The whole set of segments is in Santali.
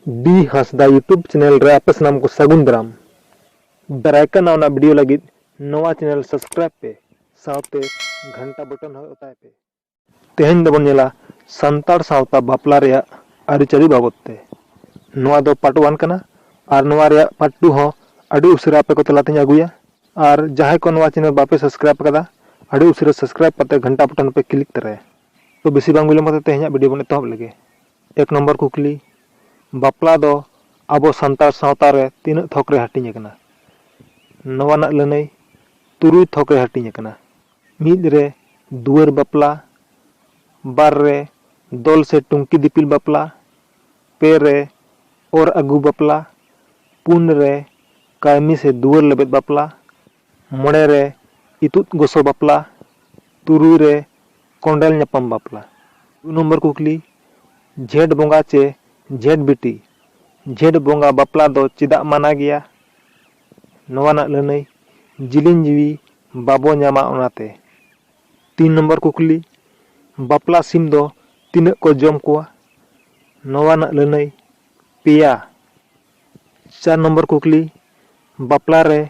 ᱵᱤ ᱦᱟᱸᱥᱫᱟ ᱭᱩᱴᱩᱵᱽ ᱪᱮᱱᱮᱞ ᱨᱮ ᱟᱯᱮ ᱥᱟᱱᱟᱢ ᱠᱚ ᱥᱟᱹᱜᱩᱱ ᱫᱟᱨᱟᱢ ᱫᱟᱨᱟᱭ ᱠᱟᱱ ᱱᱟᱣᱟ ᱱᱟᱣᱟ ᱵᱷᱤᱰᱤᱭᱳ ᱞᱟᱹᱜᱤᱫ ᱱᱚᱣᱟ ᱪᱮᱱᱮᱞ ᱥᱟᱵᱥᱠᱨᱟᱭᱤᱵᱽ ᱯᱮ ᱥᱟᱶᱛᱮ ᱜᱷᱟᱱᱴᱟ ᱵᱚᱴᱚᱱ ᱦᱚᱸ ᱚᱛᱟᱭ ᱯᱮ ᱛᱮᱦᱮᱧ ᱫᱚᱵᱚᱱ ᱧᱮᱞᱟ ᱥᱟᱱᱛᱟᱲ ᱥᱟᱶᱛᱟ ᱵᱟᱯᱞᱟ ᱨᱮᱭᱟᱜ ᱟᱹᱨᱤᱪᱟᱹᱞᱤ ᱵᱟᱵᱚᱫ ᱛᱮ ᱱᱚᱣᱟ ᱫᱚ ᱯᱟᱨᱴ ᱚᱣᱟᱱ ᱠᱟᱱᱟ ᱟᱨ ᱱᱚᱣᱟ ᱨᱮᱭᱟᱜ ᱯᱟᱨᱴ ᱴᱩ ᱦᱚᱸ ᱟᱹᱰᱤ ᱩᱥᱟᱹᱨᱟ ᱟᱯᱮ ᱠᱚ ᱛᱟᱞᱟ ᱛᱮᱧ ᱟᱹᱜᱩᱭᱟ ᱟᱨ ᱡᱟᱦᱟᱸᱭ ᱠᱚ ᱱᱚᱣᱟ ᱪᱮᱱᱮᱞ ᱵᱟᱯᱮ ᱥᱟᱵᱥᱠᱨᱟᱭᱤᱵᱽ ᱟᱠᱟᱫᱟ ᱟᱹᱰᱤ ᱩᱥᱟᱹᱨᱟ ᱥᱟᱵᱥᱠᱨᱟᱭᱤᱵᱽ ᱠᱟᱛᱮ ᱜᱷᱟᱱᱴᱟ ᱵᱚᱴᱚᱱ ᱯᱮ ᱠᱞᱤᱠ ᱛᱚᱨᱟᱭᱟ ᱛᱚ ᱵᱮᱥᱤ ᱵᱟᱝ ᱵᱤᱞᱚᱢ ᱠᱟᱛᱮ ᱛᱮᱦᱮᱧᱟᱜ ᱵᱷᱤᱰᱤᱭᱳ ᱵᱚᱱ ᱮᱛᱚᱦᱚᱵ ᱞᱮᱜᱮ ᱮᱠ ᱱᱚᱢᱵᱚᱨ ᱠᱩᱠᱞᱤ, ᱵᱟᱯᱞᱟ ᱫᱚ ᱟᱵᱚ ᱥᱟᱱᱛᱟᱲ ᱥᱟᱶᱛᱟ ᱨᱮ ᱛᱤᱱᱟᱹᱜ ᱛᱷᱚᱠ ᱨᱮ ᱦᱟᱹᱴᱤᱧ ᱟᱠᱟᱱᱟ? ᱱᱚᱣᱟ ᱨᱮᱱᱟᱜ ᱞᱟᱹᱱᱟᱹᱭ, ᱛᱩᱨᱩᱭ ᱛᱷᱚᱠ ᱨᱮ ᱦᱟᱹᱴᱤᱧ ᱟᱠᱟᱱᱟ᱾ ᱢᱤᱫ ᱨᱮ ᱫᱩᱣᱟᱹᱨ ᱵᱟᱯᱞᱟ, ᱵᱟᱨ ᱨᱮ ᱫᱚᱞ ᱥᱮ ᱴᱩᱝᱠᱤ ᱫᱤᱯᱤᱞ ᱵᱟᱯᱞᱟ, ᱯᱮ ᱨᱮ ᱚᱨ ᱟᱹᱜᱩ ᱵᱟᱯᱞᱟ, ᱯᱩᱱ ᱨᱮ ᱠᱟᱹᱲᱢᱤ ᱥᱮ ᱫᱩᱣᱟᱹᱨ ᱞᱮᱵᱮᱫ ᱵᱟᱯᱞᱟ, ᱢᱚᱬᱮ ᱨᱮ ᱤᱛᱩᱫ ᱜᱚᱥᱚ ᱵᱟᱯᱞᱟ ᱛᱩᱨᱩᱭ ᱨᱮ ᱠᱚᱸᱰᱮᱞ ᱧᱟᱯᱟᱢ ᱵᱟᱯᱞᱟ᱾ ᱫᱩ ᱱᱚᱢᱵᱚᱨ ᱠᱩᱠᱞᱤ, ᱡᱷᱮᱸᱴ ᱵᱚᱸᱜᱟ ᱪᱮ ᱡᱷᱮᱸᱴ ᱵᱤᱴᱤ ᱡᱷᱮᱸᱴ ᱵᱚᱸᱜᱟ ᱵᱟᱯᱞᱟ ᱫᱚ ᱪᱮᱫᱟᱜ ᱢᱟᱱᱟ ᱜᱮᱭᱟ? ᱱᱚᱣᱟ ᱨᱮᱱᱟᱜ ᱞᱟᱹᱱᱟᱹᱭ, ᱡᱤᱞᱤᱧ ᱡᱤᱣᱤ ᱵᱟᱵᱚ ᱧᱟᱢᱟ ᱚᱱᱟ ᱛᱮ᱾ ᱛᱤᱱ ᱱᱚᱢᱵᱚᱨ ᱠᱩᱠᱞᱤ, ᱵᱟᱯᱞᱟ ᱥᱤᱢ ᱫᱚ ᱛᱤᱱᱟᱹᱜ ᱠᱚ ᱡᱚᱢ ᱠᱚᱣᱟ? ᱱᱚᱣᱟ ᱨᱮᱱᱟᱜ ᱞᱟᱹᱱᱟᱹᱭ, ᱯᱮᱭᱟ᱾ ᱪᱟᱨ ᱱᱚᱢᱵᱚᱨ ᱠᱩᱠᱞᱤ, ᱵᱟᱯᱞᱟ ᱨᱮ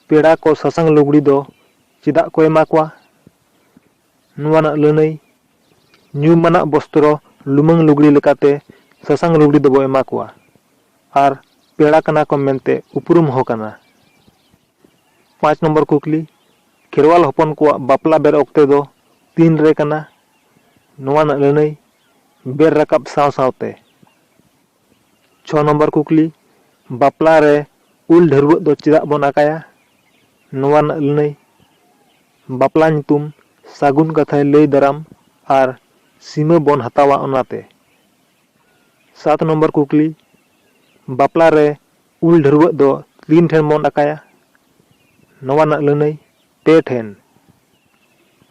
ᱯᱮᱲᱟ ᱠᱚ ᱥᱟᱥᱟᱝ ᱞᱩᱜᱽᱲᱤ ᱫᱚ ᱪᱮᱫᱟᱜ ᱠᱚ ᱮᱢᱟ ᱠᱚᱣᱟ? ᱱᱚᱣᱟ ᱨᱮᱱᱟᱜ ᱞᱟᱹᱱᱟᱹᱭ, ᱧᱩᱢᱟᱱᱟᱜ ᱵᱚᱥᱛᱨᱚ ᱞᱩᱢᱟᱹᱝ ᱞᱩᱜᱽᱲᱤ ᱞᱮᱠᱟᱛᱮ ᱥᱟᱥᱟᱝ ᱞᱩᱜᱽᱲᱤ ᱫᱚᱵᱚ ᱮᱢᱟ ᱠᱚᱣᱟ ᱟᱨ ᱯᱮᱲᱟ ᱠᱟᱱᱟ ᱠᱚ ᱢᱮᱱᱛᱮ ᱩᱯᱨᱩᱢ ᱦᱚᱸ ᱠᱟᱱᱟ᱾ ᱯᱟᱸᱪ ᱱᱚᱢᱵᱚᱨ ᱠᱩᱠᱞᱤ, ᱠᱷᱮᱨᱣᱟᱞ ᱦᱚᱯᱚᱱ ᱠᱚᱣᱟᱜ ᱵᱟᱯᱞᱟ ᱵᱮᱨ ᱚᱠᱛᱮ ᱫᱚ ᱛᱤᱱ ᱨᱮ ᱠᱟᱱᱟ? ᱱᱚᱣᱟ ᱨᱮᱱᱟᱜ ᱞᱟᱹᱱᱟᱹᱭ, ᱵᱮᱨ ᱨᱟᱠᱟᱵ ᱥᱟᱶ ᱥᱟᱶᱛᱮ᱾ ᱪᱷᱚ ᱱᱚᱢᱵᱚᱨ ᱠᱩᱠᱞᱤ ᱵᱟᱯᱞᱟ ᱨᱮ ᱩᱞ ᱰᱷᱟᱹᱨᱣᱟᱹᱜ ᱫᱚ ᱪᱮᱫᱟᱜ ᱵᱚᱱ ᱟᱠᱟᱭᱟ ᱱᱚᱣᱟ ᱨᱮᱱᱟᱜ ᱞᱟᱹᱱᱟᱹᱭ ᱵᱟᱯᱞᱟ ᱧᱩᱛᱩᱢ ᱥᱟᱹᱜᱩᱱ ᱠᱟᱛᱷᱟᱭ ᱞᱟᱹᱭ ᱫᱟᱨᱟᱢ ᱟᱨ ᱥᱤᱢᱟᱹ ᱵᱚᱱ ᱦᱟᱛᱟᱣᱟ ᱚᱱᱟᱛᱮ ᱥᱟᱛ ᱱᱚᱢᱵᱚᱨ ᱠᱩᱠᱞᱤ ᱵᱟᱯᱞᱟ ᱨᱮ ᱩᱞ ᱰᱷᱟᱹᱨᱣᱟᱹᱜ ᱫᱚ ᱛᱤᱱ ᱴᱷᱮᱱ ᱵᱚᱱ ᱟᱠᱟᱭᱟ ᱱᱚᱣᱟ ᱨᱮᱱᱟᱜ ᱞᱟᱹᱱᱟᱹᱭ ᱯᱮ ᱴᱷᱮᱱ᱾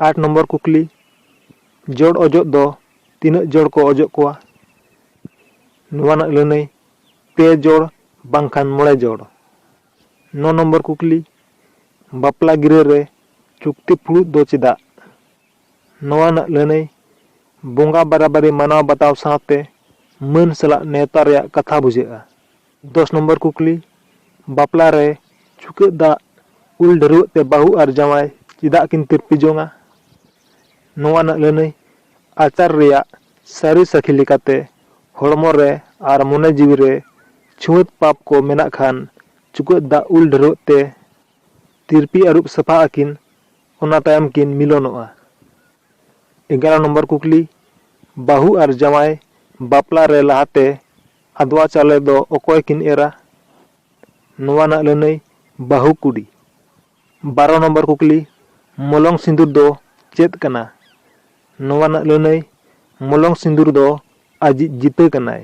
ᱟᱴ ᱱᱚᱢᱵᱚᱨ ᱠᱩᱠᱞᱤ, ᱡᱚᱲ ᱚᱡᱚᱜ ᱫᱚ ᱛᱤᱱᱟᱹᱜ ᱡᱚᱲ ᱠᱚ ᱚᱡᱚᱜ ᱠᱚᱣᱟ? ᱱᱚᱣᱟ ᱨᱮᱱᱟᱜ ᱞᱟᱹᱱᱟᱹᱭ, ᱯᱮ ᱡᱚᱲ ᱵᱟᱝᱠᱷᱟᱱ ᱢᱚᱬᱮ ᱡᱚᱲ᱾ ᱱᱚ ᱱᱚᱢᱵᱚᱨ ᱠᱩᱠᱞᱤ, ᱵᱟᱯᱞᱟ ᱜᱤᱨᱟᱹ ᱨᱮ ᱪᱩᱠᱛᱤ ᱯᱷᱩᱲᱩᱜ ᱫᱚ ᱪᱮᱫᱟᱜ? ᱱᱚᱣᱟ ᱨᱮᱱᱟᱜ ᱞᱟᱹᱱᱟᱹᱭ, ᱵᱚᱸᱜᱟ ᱵᱟᱨᱟᱵᱟᱨᱤ ᱢᱟᱱᱟᱣ ᱵᱟᱛᱟᱣ ᱥᱟᱶᱛᱮ ᱢᱟᱹᱱ ᱥᱟᱞᱟᱜ ᱱᱮᱣᱛᱟ ᱨᱮᱭᱟᱜ ᱠᱟᱛᱷᱟ ᱵᱩᱡᱷᱟᱹᱜᱼᱟ᱾ ᱫᱚᱥ ᱱᱚᱢᱵᱚᱨ ᱠᱩᱠᱞᱤ, ᱵᱟᱯᱞᱟ ᱨᱮ ᱪᱩᱠᱟᱹᱜ ᱫᱟᱜ ᱩᱞ ᱰᱷᱟᱹᱨᱣᱟᱹᱜ ᱛᱮ ᱵᱟᱹᱦᱩ ᱟᱨ ᱡᱟᱶᱟᱭ ᱪᱮᱫᱟᱜ ᱠᱤᱱ ᱛᱤᱨᱯᱤ ᱡᱚᱝᱼᱟ? ᱱᱚᱣᱟ ᱨᱮᱱᱟᱜ ᱞᱟᱹᱱᱟᱹᱭ, ᱟᱪᱟᱨ ᱨᱮᱭᱟᱜ ᱥᱟᱹᱨᱤ ᱥᱟᱹᱠᱷᱤ ᱞᱮᱠᱟᱛᱮ ᱦᱚᱲᱢᱚ ᱨᱮ ᱟᱨ ᱢᱚᱱᱮ ᱡᱤᱣᱤ ᱨᱮ ᱪᱷᱩᱣᱟᱹᱛ ᱯᱟᱯ ᱠᱚ ᱢᱮᱱᱟᱜ ᱠᱷᱟᱱ ᱪᱩᱠᱟᱹᱜ ᱫᱟᱜ ᱩᱞ ᱰᱷᱟᱹᱨᱣᱟᱹᱜ ᱛᱮ ᱛᱤᱨᱯᱤ ᱟᱹᱨᱩᱵ ᱥᱟᱯᱷᱟᱜ ᱟᱹᱠᱤᱱ ᱚᱱᱟ ᱛᱟᱭᱚᱢ ᱠᱤᱱ ᱢᱤᱞᱚᱱᱚᱜᱼᱟ᱾ ᱮᱜᱟᱨᱚ ᱱᱚᱢᱵᱚᱨ ᱠᱩᱠᱞᱤ, ᱵᱟᱹᱦᱩ ᱟᱨ ᱡᱟᱶᱟᱭ ᱵᱟᱯᱞᱟ ᱨᱮ ᱞᱟᱦᱟᱛᱮ ᱟᱫᱽᱣᱟ ᱪᱟᱣᱞᱮ ᱫᱚ ᱚᱠᱚᱭ ᱠᱤᱱ ᱮᱨᱟ? ᱱᱚᱣᱟ ᱨᱮᱱᱟᱜ ᱞᱟᱹᱱᱟᱹᱭ, ᱵᱟᱹᱦᱩ ᱠᱩᱲᱤ᱾ ᱵᱟᱨᱚ ᱱᱚᱢᱵᱚᱨ ᱠᱩᱠᱞᱤ, ᱢᱚᱞᱚᱝ ᱥᱤᱸᱫᱩᱨ ᱫᱚ ᱪᱮᱫ ᱠᱟᱱᱟ? ᱱᱚᱣᱟ ᱨᱮᱱᱟᱜ ᱞᱟᱹᱱᱟᱹᱭ, ᱢᱚᱞᱚᱝ ᱥᱤᱸᱫᱩᱨ ᱫᱚ ᱟᱡᱤᱡ ᱡᱤᱛᱟᱹ ᱠᱟᱱᱟᱭ᱾